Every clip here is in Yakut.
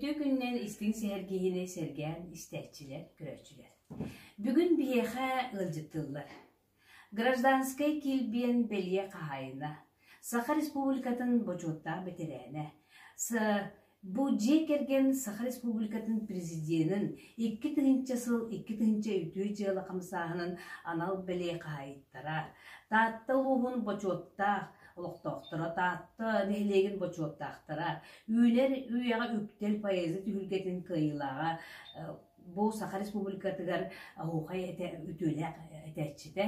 Үтүө күннэн истиҥ сэһэргиһини сэргээн истээччилэр, көрөөччүлэр. Бүгүн биһиэхэ ыалдьыттыллар. Гражданскай килбиэн бэлиэ хаһаайына, Саха Республикатын бочуоттаах бэтэрээнэ, С. Бу дьиэ кэргэн Саха Республикатын Президенин икки тыһыынча сыл икки тыһыынча үтүө дьыала хамсааһынын анал бэлиэ хаһаайыттара, Таатта улууһун бочуоттаах олохтоохторо Таатта нэһилиэгин бочуоттаахтара Үүнэр үйэҕэ үктэл поэзия түһүлгэтин кыайыылааҕа бу Саха Республикатыгар оһуохай этэ, үтүөлээх этээччитэ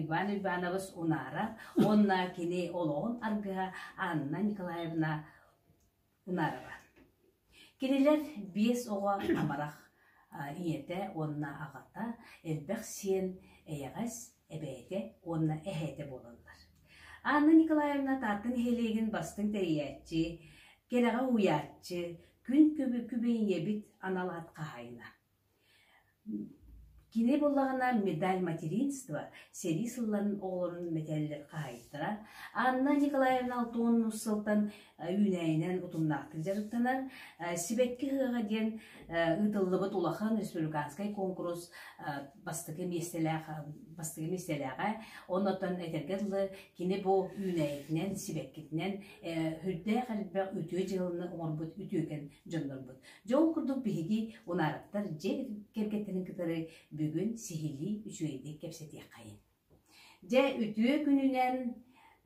Иван Иванович Унаров уонна кини олоҕун аргыһа Анна Николаевна Унаарыма. Кинилэр биэс оҕо амарах ийэтэ уонна аҕата, элбэх сиэн, эйэҕэс, эбээтэ уонна эһээтэ буолаллар. Анна Николаевна Таатта нэһилиэгин бастыҥ тэрийээччи, кэрэҕэ уһуйааччы, күн күбү күбэ ийэбит анал ат хаһаайына. Кини буоллаҕына Медаль материнства сэрии сылларын оҕолорун мэтээллэр хаһаайыттара Анна Николаевна Алтон Муссалтан үүнээйинэн утумнаахтык дьарыктанар «Сибэкки ыһыаҕа» диэн ыытыллыбыт улахан республиканскай куонкурус бастакы миэстэлээх бастакы миэстэлээҕэ. Оннуттан этэргэ дылы кини бу үүнээйитинэн, сибэккитинэн үрдээх элбэх үтүө дьыаланы оҥорбут үтүөкэн дьоннорбут. Дьэ ол курдук биһиги унаарыттар дьиэ кэргэттэрин кытары бүгүн сиһилии үчүгэйдик кэпсэтиэххэйин. Дьэ үтүө күнүнэн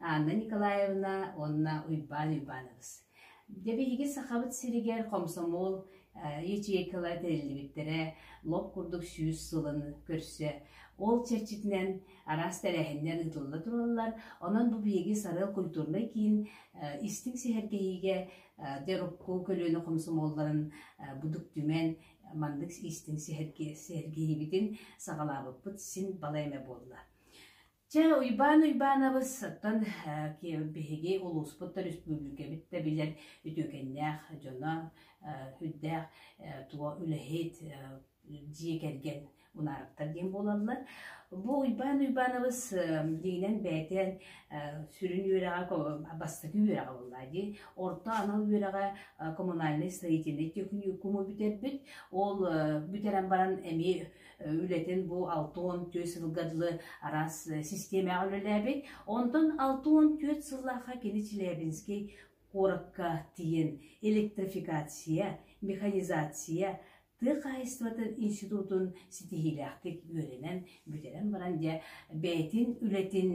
Анна Николаевна уонна Уйбаан Уйбаанабыс. Дьэ биһиги Сахабыт сиригэр хомсомол ячейкалар тэриллибиттэрэ лоп курдук сүүс сылын көрсө ол чэрчитинэн араас тэрээһиннэр ыытылла тураллар онон бу биһиги сарыал культурнай киин истиҥ сэһэргэһиигэ Терукку көлүөнэ хомсомуолларын Будук Түмэн маннык иистин сэргиирибитин саҕалаабыппыт син балай эмэ буолла. Чэ, Уйбаан Уйбаанабыттан биһиги улууспут да республикабыт да билэр үтүөкэннээх дьоно, үрдээх туо үлэһит, дьиэ кэргэн Улаараптар диэн буолаллар. Бу Уйбаан Уйбаанабыс дигинэн бэйэтин сүрүн үөрэҕэ бастакы үөрэҕэ буолла дии. Орто анал үөрэҕэ коммунальнай строительнай техникуму бүтэрбит. Ол бүтэрэн баран эмиэ үлэтин бу алта он түөрт сылга дылы араас системаҕа үлэлээбит. Онтон алта он түөрт сыллаахха кини Челябинский куоракка тиийэн электрификация, механизация тыа хаһаайыстыбатын институтун ситиһиилээхтик үөрэнэн бүтэрэн баран дьэ бэйэтин үлэтин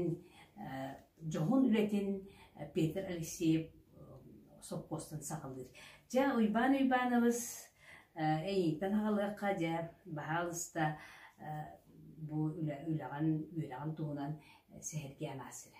дьоһун үлэтин Петр Алексеев сопхуостан саҕалыыр. Дьэ Уйбаан Уйбаанабыс эйииттэн аҕалыахха дьэ баһаалыста бу үлэҕин үөрэҕин туһунан сэһэргээн аасыра.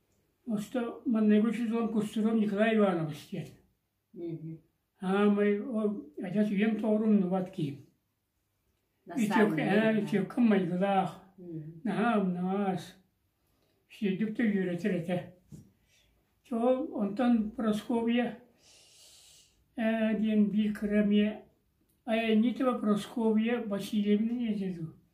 Оста манныгы сезон кустурун Николай Иванович диэн аамай ол адьас үйэм тоҕору умнубат киһим ичэккэ ээ ичэккэм майгылаах наһаа умнаҕас сиэдик да үөрэтэр этэ чэ ол онтон Прасковья ээ диэн биир кыра эмиэ айанньытова Прасковья Васильевна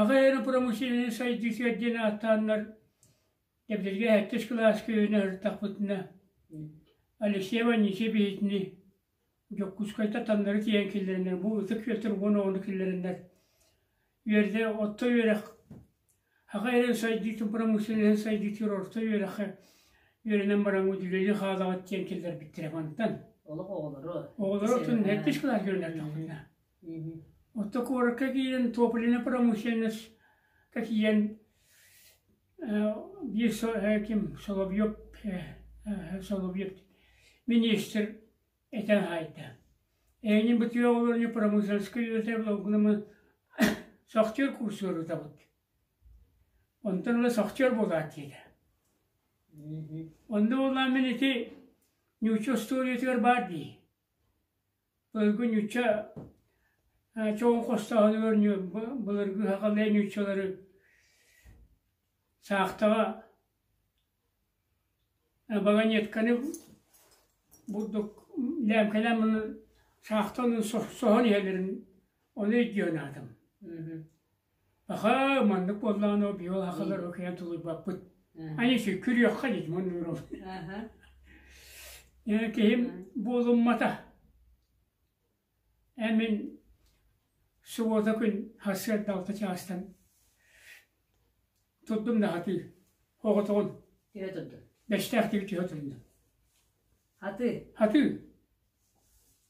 Аҕа аэропромышленнай сайдыытыгар диэн ааттааннар Дэбдиргэ сэттис кылааска үөнэ сырыттахпытына Алексей Ванисьевични Дьокуускайга таннары тиийэн киллэрэннэр бу ытык Петр уон оҕону киллэрэннэр үөрдэ орто үөрэх аҕа эрэ сайдыытын промышленнай сайдыытыгар орто үөрэххэ үөрэнэн бараҥҥыт үлэлии хаалаҕыт диэн киллэрбиттэрэ мантан олох оҕолоро оҕолоро оттон сэттис кылааска үөннэртэхпитинэ Оттон куоракка киирэн топлиннай промышленность ка тиийэн биир ким Соловьев Соловьев миниистир этэн хаайда Ээни бытыа олорню промышленскай үлэтэ благугнама сохтер курсуорутабыт онтон ыла сохтер буолаат диэтэ онно буоллаан мин ити ньуучча устуоруйатыгар баар дии Ойго ньучча чоҕун хостооһун оонньуо былыргы сахалыы ньуччалары саахтаҕа баганетканы бурдук лээмкэлээн маны саахтаныы соһон иһэллэрин ону өйдүөн аатым Аха, маннык буоллаҕына ол биһи ол хахалар океан тулуйбаппыт. Аны сүккүрүөххэ дии Димон Нуровна. Э, киһим буолуммата. Эмин субуота күн хассыарда алта чаастан турдум наһатыы оҕотоҕун Түһэ турдун. бэстээхтиги түһэ турдum. Хатыы. хатыы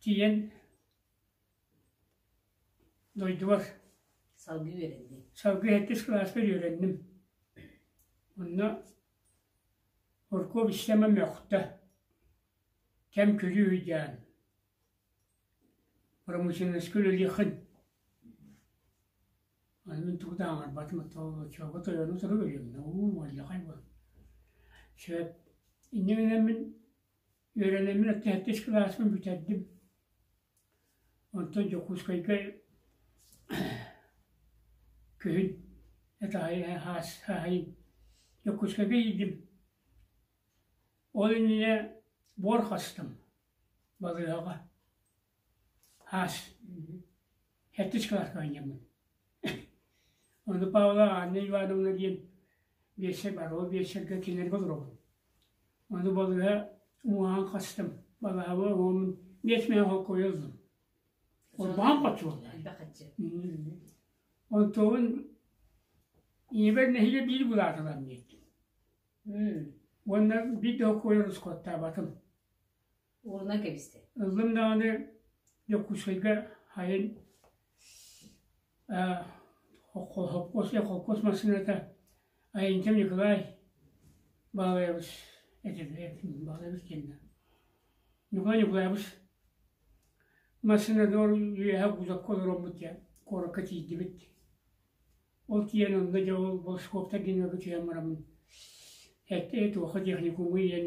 тиийэн дойдубар салгыы үөрэнним салгыы сэттис кылааспар үөрэнним онно оркуоп истэмэ мөхтө кэм күлүү ыйдаан промышленноска үлэлиэххин онон тугу да аҥарбатым оччолорго тойону турук өлүөмнэ уу уолльахай буол сөп иннигинэммин Үөрэнэммин аттеһиттис кылааспын бүтэрдим. Онтон Дьокуускайга күһүн һаһайын Дьокуускайга иийдим. Ол иннинэ буор хастым балыыһаҕа. Аас херточкалаах оонньуубун. Ону Павла Анна Ивановна диэн биэсэр барҕа биэсэргэ кинилэргэ олоробун. Ону балыга уһаан хастым. Балаһабы уһаммын биэс миэхэ холкуйа ыллым. Урбаан хотсуолла. Элбэх хаччы. Онтуун ийэбэр нэһилиэ биир булаатылам диэттим. Уонна биир да холкуйа рускоттаабатым. Уолуна кэбистэ. Ыллым даҕаны Дьокуускайга хайын аа холкуос холкуос массыыната Айантем Николай Баалайабыс этилэр Баалайабыс кэннэ Николай Николаевич массыынатыгар үөһэ кузовка олороммут диэн куоракка тиийдибит. Ол тиийэн онно дьэ ол волскоптар диэн өлгө түһэн бараммын этэ туоха техникуму иэн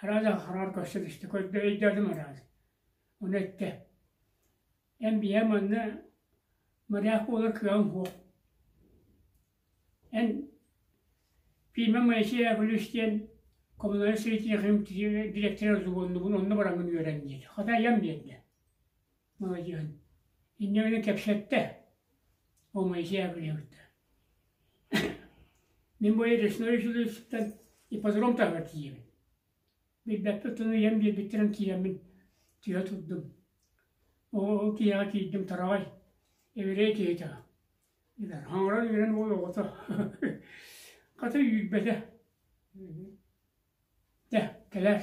Араас аҕалар көрсөн истэ, көрдө, өйдөөтүм араас. Ону эттэ, эн биһэ манна моряк буолар кыаҕыҥ суох. Эн Фима Моисей Яковлевич диэн коммуналь сырытиэхим дириэктэрэ субуоннубун, онно бараҥҥын үөрэн диэтэ. Хата айан биэрдэ. Маладьыан, инньэ гынан кэпсэттэ, о Моисея билэбит Мин бу Ресной үсүлүөтүттэн ипподром таһыгар тиийэбин. Билбэппит оттон ийэм биэрбиттэрин тиийэммин тыа турдум. Ол тиһэҕэ тиийдим тараҕай, эбирэй тиһэтэҕэ. Билэр, хаҥыран үөрэн уой оҕото. Хата үүрбэтэ. Дэ, кэлээр.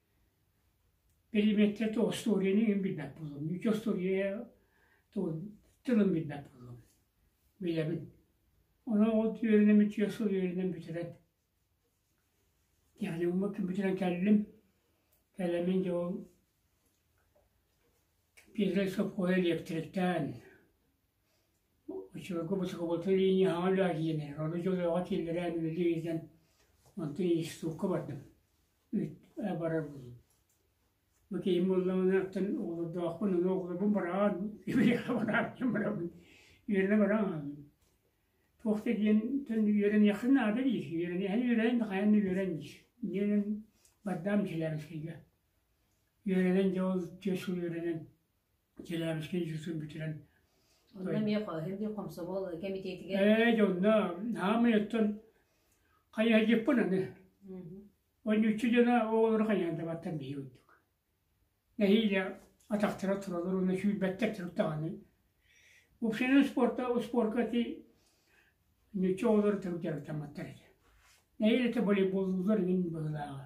Переметче то остуоруйаны иһин билбэт буоллум, ньүчү остуоруйа тугун тылын билбэт буоллум, билэбин. Ону от үөрэнэн мүччү сыл үөрэнэн бүтэрэн, yani уммут бүтэрэн кэллим. Кэлэмин дьэ ол первый сопхуоһа электриктаан очевидку бочукубутун линияҕа үлэ киирэн, ону дьолооҕо киллэрэн үлэлии илдьэн, онтон институкка бардым. Үүт барабын. Бу киһим буоллаҕынааттан оҕолордоохпун, ону оҕолорбун бараан, үөрэҕэ барааччым барабын. Үөрэнэ бараан. Туох да диэн үөрэниэххэ наада диир. Үөрэниэххэ үөрээн да хайан да үөрэн диир. Диэн бардаам силээбискийгэ. Үөрэнэн дьэ ол чиэс үөрэнэн Челябинскай институтун бүтэрэн Онно эмиэ эмиэ хомсомол кэмитиэтигэр Ээ дьэ онно хаамай оттон хайыһадьыппын аны онньуччу дьоно оҕолору хайыһандабаттан биһиги курдук нэһиилэ атахтара туралар уонна сүүрбэттэр турук даҕаны буксинан спорта успуорка ити ньуччу оҕолору турук дьарыктамматтар этэ нэһиилэ это волейболлуулар иҥин быһылааҕа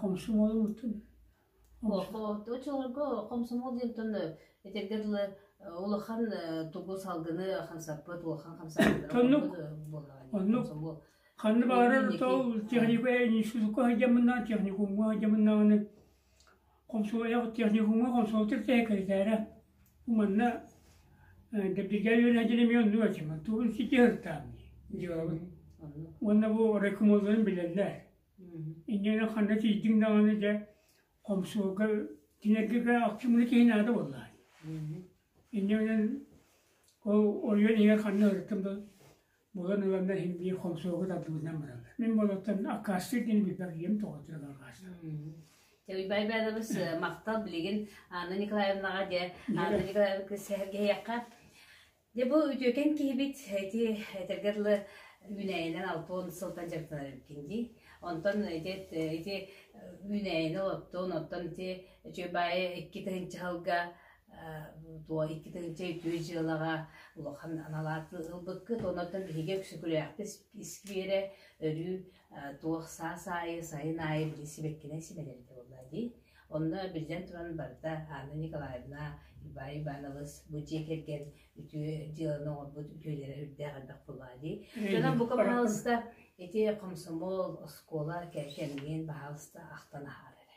Хомсом уолуммутун хомсомуол диэнтэн итиргэ дылы улахан тугу салгыны хамсаппыт улахан хамсаабыт ханна баҕарар техникум техникумҥа сылдьаммынаан Хомсуойах техникуҥҥа хомсуолтир сэкирэтээрэ манна Дабдигай Леня Деремионович тугун ситиһыахтаамый диэҕим уонна бу рекомолуйан билэллэр иннинэ ханна тиийдиҥ даҕаны дьэ хомсуолга тинэргигэ ахчыммыны киһи наада буоллаҕа иннинэн ол оройуон иһигэр ханна ырыттым да Булан ыланна иһин биир хомсуогу тардыбытынан бараллар. Мин болоттон аккаастыыр диэни билбэр ийэм тоҕотуйалар аккаастыыр. Те Уйбай Баадабыс махтал билигин Анна Николаевнаҕа де Анна Николаевна сэһэргэһиэххэ. Де бу үтүөкэн киһибит эти этэргэр лы үүнээйинэн алтон сылтан дьарыктанар эбиккин дии. Онтон ити ити үүнээйини олоттон, оттон ити үчүгэй баайы икки тыһынчы халга Туо икки тыһыынча үтүө дьыалаҕа улахан аналааты ылбыккыт, онон биһиги Өксөкүлээхпит искиэрэ өрүү туох саас аайы, сайын аайы били сибэккинэй симэлэритэ буолла дии. Онно биллэн туран барыта Анна Николаевна, Иван Иванович бу дьиэ кэргэн үтүө дьыаланы оҥорбут үтүөлэрэ үрдээх элбэх буоллаа дии. Дьонон бука пожалуйста ити комсомол, оскуола кэмҥин баһаалыста ахтан аһаара эрэ.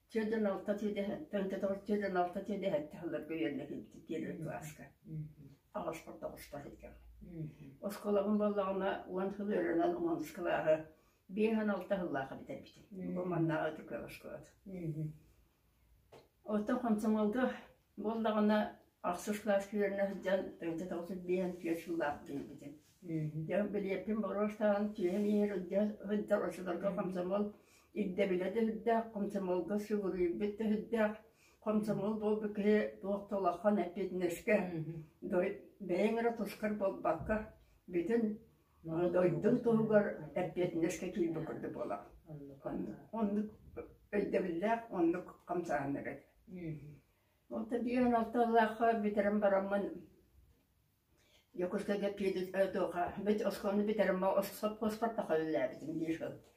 Түөрт уон алта түөдэһэттэн көтөҕүл түөрт уон алта түөдэһэттэ сылларга үөрэнэбинтит диэн университетка аҕаласпар тоҕустар этим. Оскуолабын буоллаҕына уон сыл өрөнөн омонускалааҕы биэс уон алта сыллааха бүтэрбитим. Бу маннааҕы түркөл оскуолата. Оттон хомсомолга Буоллаҕына, ахсыс сылаас күөлүнэ сылдьан тыһыынча тоҕус биэһэн түөрт сыллаах диэбитим. Дьэ, билиэппин боруостаан түөһэм иһигэр илдьэ сылдьар оччолорго хомсомол ирдэбилэ да сүрдээх, хомсомолго сүгүрүйбүт да сүрдээх. Хомсомол буолбут киһи туох да улахан эппиэтинэскэ, бэйэҥ эрэ тускар буолбакка, бүтүн дойдум туһугар эппиэтинэскэ киирбит курдук буолар. Оннук, оннук өйдөбүллээх, оннук хамсааһыннар этэ. Отто диэн алталаахха бүтэрэн бараммын Дьокуускайга киирбит туоха бит оскуоланы бүтэрэн сопхуоспар тахаллаабытым биир хыл.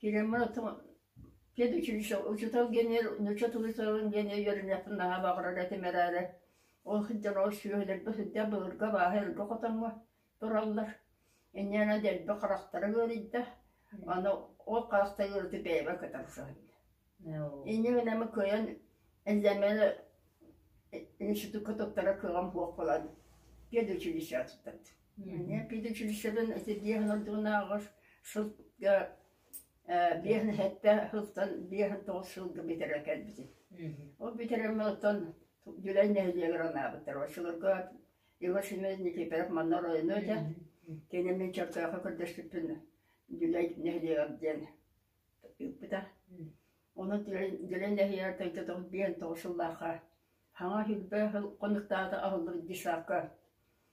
Киирэн барытым пед училищеҕа учуутал гений нуучча тылы сыалын гений үөрэнээхпин наһаа баҕарар этим эрээри ол сылдьан ол сүөһүлэргэ сылдьан былыргы абааһы өргө хотоҥҥо тураллар иннинэ дэлби харахтара ыарыйда аны ол харахтара ыарыытык бэйэбэр көтөн охсуһан иннибин эмэ кыайан эллэмэни институкка туттара кыаҕым суох буолан педучилищеҕа туттардым Педучилищебын сирдиэһин ордугунааҕар сылга биэс сэттэ сылтан биэс тоҕус сылга бүтэрэ кэлбитим. Ол бүтэрэммэ оттон Дьүлэй нэһилиэгэр анаабыттар. Оччолорго Иван Семенович Никифоров манна оройуну этэ. Кини мин чөркөөххө көрдөспүппүн Дьүлэй нэһилиэгэр диэн ыыппыта. Онон Дьүлэй нэһилиэгэр төрдө тоҕус биэс тоҕус сыллаахха саҥа сүүрбэ сыл хонуктаата аһыллыбыт быыстапка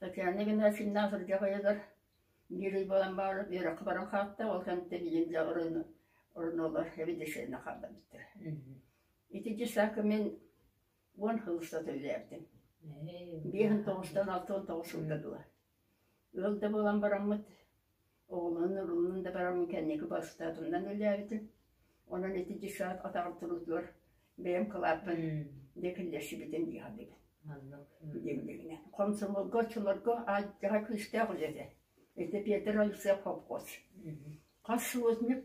Татьяна Игнатьевна сырдьах уйатыгар биир ый буолан баҕарар үөрэххэ баран хаалта, ол кэнниттэн ийэм дьэ оронугар эбэдиссэйинэ хаалла эбиттэр. Итинчи саакка мин уон хыл устата үлэлээбитим. Биэс он тоҕустан алта он тоҕус сылга дылы. Ыал да буолан бараммыт, Оҕолоон ылыммын да баран кэнники бастатымнан үллээбитим. Онон ити десант атаҕар туруутугар бэйэм кылааппын декиллэсибитим дии саныыбын. Дивдигинэн. Комсомолго оччолорго алдьара күүстээх үлэ этэ. Ити Петр Алексеев хопкос. Хас художник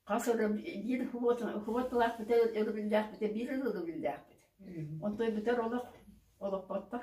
хас өрөм биир худуотулаахпыта өрөбүллээхпитэ биир өрөбүллээхпит. Онтон бүтэр олох олохпоттор.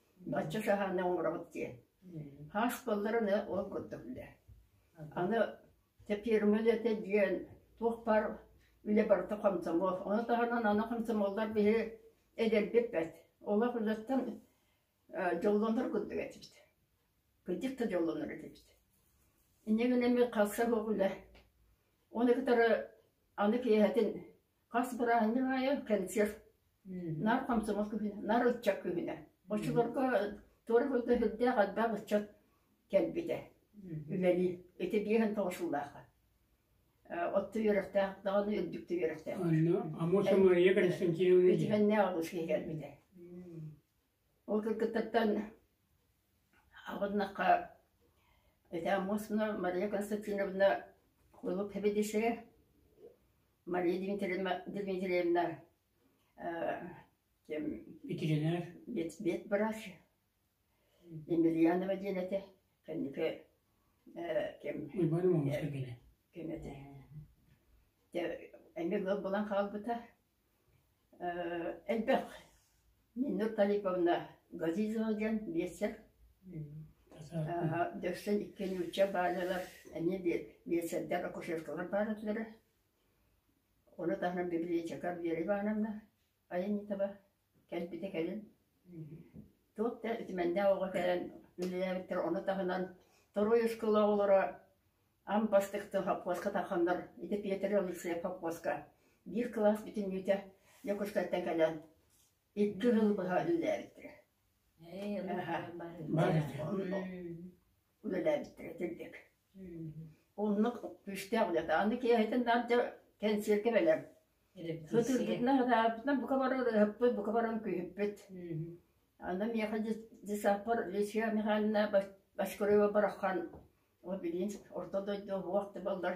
Бачча шаһааны оҥоробут диэн. Хас кылларын ол курдук үлэ. Аны фирма үлэтэ диэн туох бар үлэ барыта комсомол. Ону таһынан аны комсомоллар биһи эдэрбиппэт. Олох үлэттэн дьоллонор курдук этибит. Кырдьык да дьоллонор этибит. Иннигин эми хавшах улэ. Оны кытары аны киэһэтин хас бырааһынньык аайы кэнсиэр наар комсомол кыһына наар ыччат кыһына оччолорго туора хойга сүрдээх элбэх ыччат кэлбитэ үлэни ити биэһин тоҕушуллааха отто үөрэхтээх даҕаны үрдүктү үөрэхтээх Анна Амосова Мария Константиновна Итивэннээх алгыс киһи кэлбитэ Ол кыргыттартан абыннахха этэ Амосовна, Мария Константиновна кулуп хэбидишэ, Мария Дмитриевна Дмитриевна ким ветеринар бэт бырач Емельянова диэн этэ кэнники ким Уйбаан Омонович кэргэнэ ким этэ эмиэ буолан хаалбыта Элбэх Миннур Талиповна Газизова диэн биэстэр дьахсан икки нуучча баалалар эмиэ биэстэрдэр акушеркалар баар этилэрэ. Ону таһынан библиотекарь Вера Ивановна Аянитова Кэлбитэ кэлин туох да итимэннээх оҕо кэлэн үлэлээбиттэр, ону таһынан второй оскуола оҕолоро ам бастакытын хоппуоска тарханнар, ити Петр Алексеев хоппуоска биир кылаас бүтүннүүтэ Дьокуускайтан кэлэн икки жыл быһа үлэлээбиттэрэ. Аха. Бар. үлэлээбиттэр итирдик. Оннук күүстээх үлэ. Аны киэһэтин наам дьэ кэнсиэргэ бэлэм. Ытырбытынан атаарбытынан бука баран ыһыппыт, бука баран күүһүппүт. Аны миэхэ десаппар Лесия Михайловна Башкурева барахан ол билиин орто дойду уһуах да баллар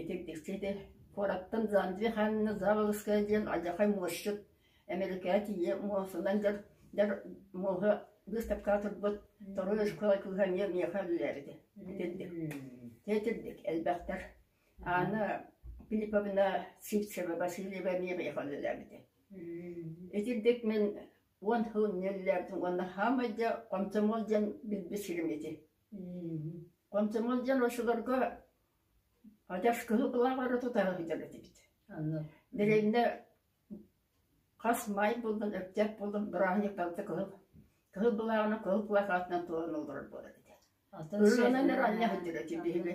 Итирдикчитэ, куораттан Занзи ханна Заволжская диэн алдьархай муосчут, эмэрикэҕэ тиийэ муосунан дьар дьар муоһа быыстапкаҕа турбут торуй ошкуола кыыһа эмиэ миэхэ үлэлээр этэ. Итирдик. Дьэ итирдик, элбэхтэр. Аана Филипповна Сивцева Васильева эмиэ миэхэ үлэлээбитэ. Итирдик мин уон сыл инньэ үлэлээбитим уонна хаамай дьа хомсомуол диэн билбит сирим ити. Комсомол дьон очуларга хотя кыһыл кылааҕары тутара сылдьар этибит. Аны билиҥҥэ хас маай булдун, өктөөп булдун бырааһынньык балта кыһыл кыһыл былааҕынан кыһыл кылаах аатынан туолан олорор буолар этэ. Өлөөннөр анньа сылдьар этим биһиги.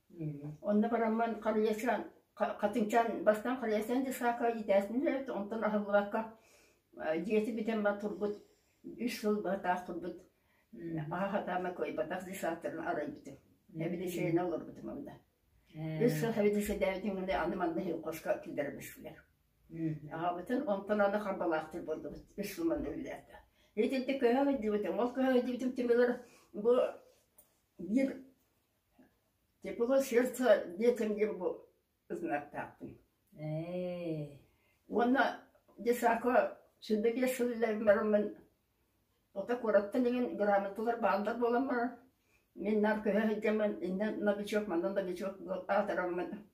Онно бараммын халыйаччы хатыҥчаан бастаан халыйаччыны дьассаакка иитээспин эбит, онтон аһыллыбакка дьиэти бүтэн баран турбут үс сыл быһатаах турбут аһа сатаама кыайбатах дьассааттарын арыйбытым, эбилишение олорбутум онно. Үс сыл эбилишедээбитин гына аны манна хоско киллэрэ түстүлэр. Аҕабытын онтон аны харбалаахтар буоллубут үс сыл манна үлэлээтэ. Итинтэ көһө дьиибитим, ол көһө дьиибитим түмүгэр бу биир Тепло сердца детям Гербу ытынаттаахпын уонна Дешако сүүрдэки сылларыммын ото куораттан иҥин грамоталар бааллар буоламмар мин наар көһө сылдьаммын иннэ новичок манна новичок аатыраммын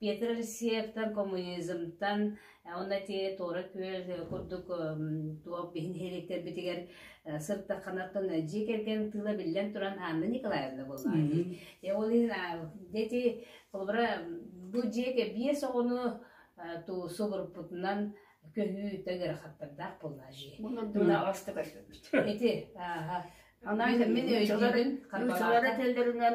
Петр Алексеевтан, коммунизмтан уонна те Тора Күөл курдук туох биһи нэһилиэктэрбитигэр сыртахханаттан дьиэ кэргэн тыла биллэн туран Анна Николаевна буоллаҕа. Ол иһин дети холобура бу дьиэгэ биэс оҕону туусу группутунан көһүү төгөр хаттардаах буолла жи. Мына аваста көрбөбүт. Эти. Ана мин өйдүүрүн хардалаата. Уулара теллеринен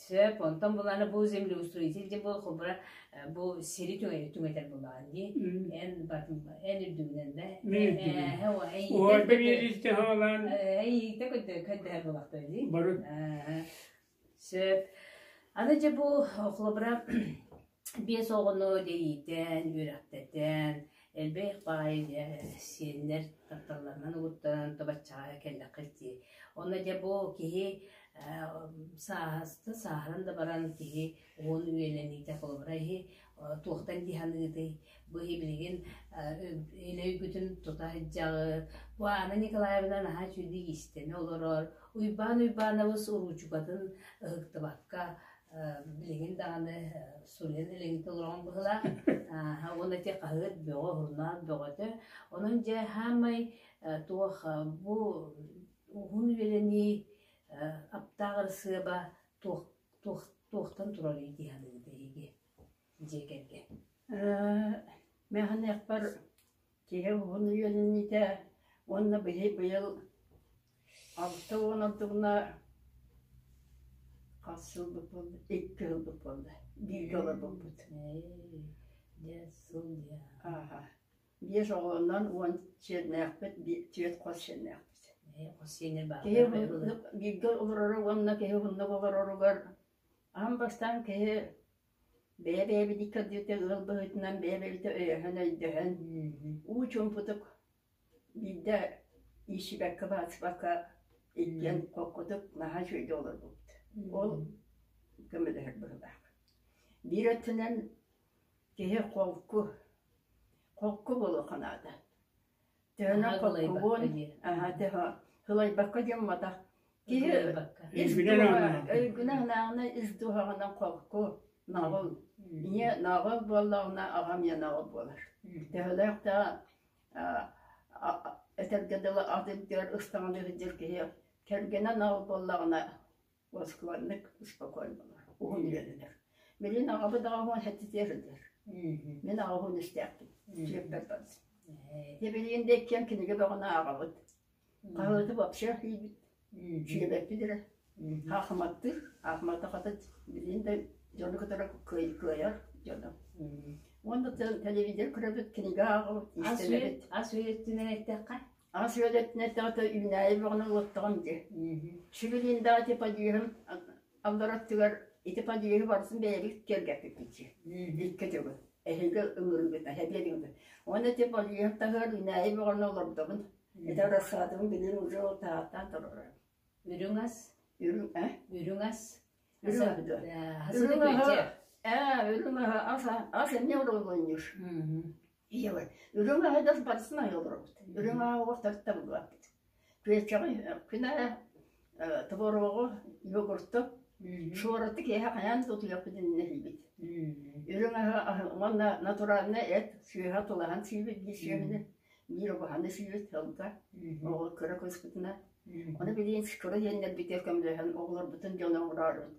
Сөп, онтон булааны бу землеустроитель дии бу холбура бу сири түҥэтэр булаан дии. Эн батын эн үрдүгүнэн да. Миирдүгүн. Ой, бэбиэдилте хаалаан. Эйте көтө көтө булахта дии. Барут. Сөп. Аны же бу холбура биэс оҕону дэйиитэн, үөрэхтэтэн, элбэх баай сиэннэр тапталларынан угуттаран тобаччаҕа кэллэххит дии. Онно дьэ бу киһи сааһыста сааһыран да баран киһи уон үйэлэниитэ холобура иһи туохтан дии саныытый бу иһи билигин өйгүтүн тута сылдьаҕыт бу Анна Николаевна наһаа үчүгэй иистэнэ олорор Уйбаан Уйбаанабыс уруучукатын ыһыктыбакка билигин даҕаны сунен илигин толорон быһылаах уонна те хаһыат бөҕө журнал бөҕөтө онон дьэ хаамай туох бу уһун үлэлэнии аптааҕыр сыаба туохтан туралый дии саныыта иһиги дьиэ кэргэ мәханекпар Киһи уһун үөнньүтэ уонна били быйыл алта уон ордугуна хас сылбыт буолла? Икки сылбыт буолла. Бииргэ олорбуппут. Биэс сыл диэн. Ааха. Биэс оҕонон уон сиэннээхпит, түөрт хос сиэннээхпит. Хос сиэнэ баар. Киһи бииргэ олороро уонна киһи уһуннук олороругар аан бастаан киһи Бэйэ-бэйэбитин кырдьыыта ыал быһыытынан бэйэ-бэйэбитэ өйөһөн-өйдөһөн уу чуумпутук биирдэ иичсибэккэ-баачсыбакка иллиэн хоккутук наһаа үчүгэйдик олорбуппут. Ол көмөлөһөр быһыылаах. Биир өттүнэн киһи холку, холку буолуохха наада. Төһөнө холкугун, сылайбакка дьоммотох. Киһи ис өйгүнэ-санааҕына ис дууһаҕынан холку, наҕыл. Ийэ наҕыл буоллаҕына, аҕам ийэ наҕыл буолар. Төһөлөөхтөөх этэргэ дылы ат илдьэр, ыстаҥалыы сылдьар киһи кэргэнэ наҕыл буоллаҕына Уоскубаннык успокой буолар, уһун үөрэнэр. Билин аҕабыт аҕа уһун хэттитиэр өтөр. Мин аҕа уһун истээхпин, сүөппэр барсым. Дебилин да иккиэн кинигэ бөҕөнө аҕабыт. Хаһыаты вообще хийбит. Сүөбэппит эрэ. Хаахыматтыыр, хаахыматта хатыт, билин да дьону кытары кыайар дьоно. Уонна телевизор көрөбүт, кинигэ ааҕабыт, истэбит. Ас үйөттүнэн эттэххэ? Ас үөдэтин эттэҕитэ үүнээйи бөҕөнү ылыттаҕым дии. Шигулин даҕа ити подъеһын аллараттыгар ити подъеһы барытын бэйэбит киэргэппиппит дии. Икки дьылы. Эһиги ыллыргыта, эбиэтигита. Уонна ити подъеһын таһыгар үүнээйи бөҕөнү олордобун. Ити рассадабын билиэн уже ол таһааттан турара. Үрүҥ ас. Үрүҥ, э? Үрүҥ ас. Үрүҥ ас. Үрүҥ аһы, э, үрүҥ аһы ас эмиэ урулунньуш. Ийэбэр үрүҥ аһыгар барысын айа олоробут. Үрүҥ ааҕыгар тарта булбаппыт. Күөччэҕи күнэ творогу, йогурту, шуораты киэһэ хайаан да утуйаппыт иннинэ сиибит. Үрүҥ аһы уонна натуральнай эт сыыһа тулаһан сиибит биир сиэмини, биир обуһаны сиибит сылга. Оҕо кыра кыыспытынан. Ону билигин скоро диэннэрбитигэр көмөлөһөн оҕолорбутун дьоно оҥороорбут.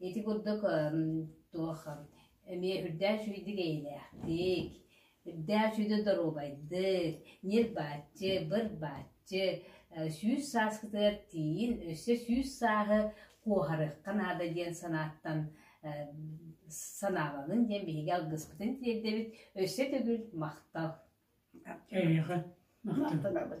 Ити курдук туох эмиэ үрдээх үчүгэйдик эйэлээхтик, үрдээх үчүгэй доруобайдык, ньир-бааччы, быр-бааччы сүүс сааскытыгар тиийин өссө сүүс сааһы куоһарыахха наада диэн санааттан санаабаҕын диэн биһиги алгыспытын тиэрдэбит өссө төгүл махтал. Эйиэхэ. Махтанабыт.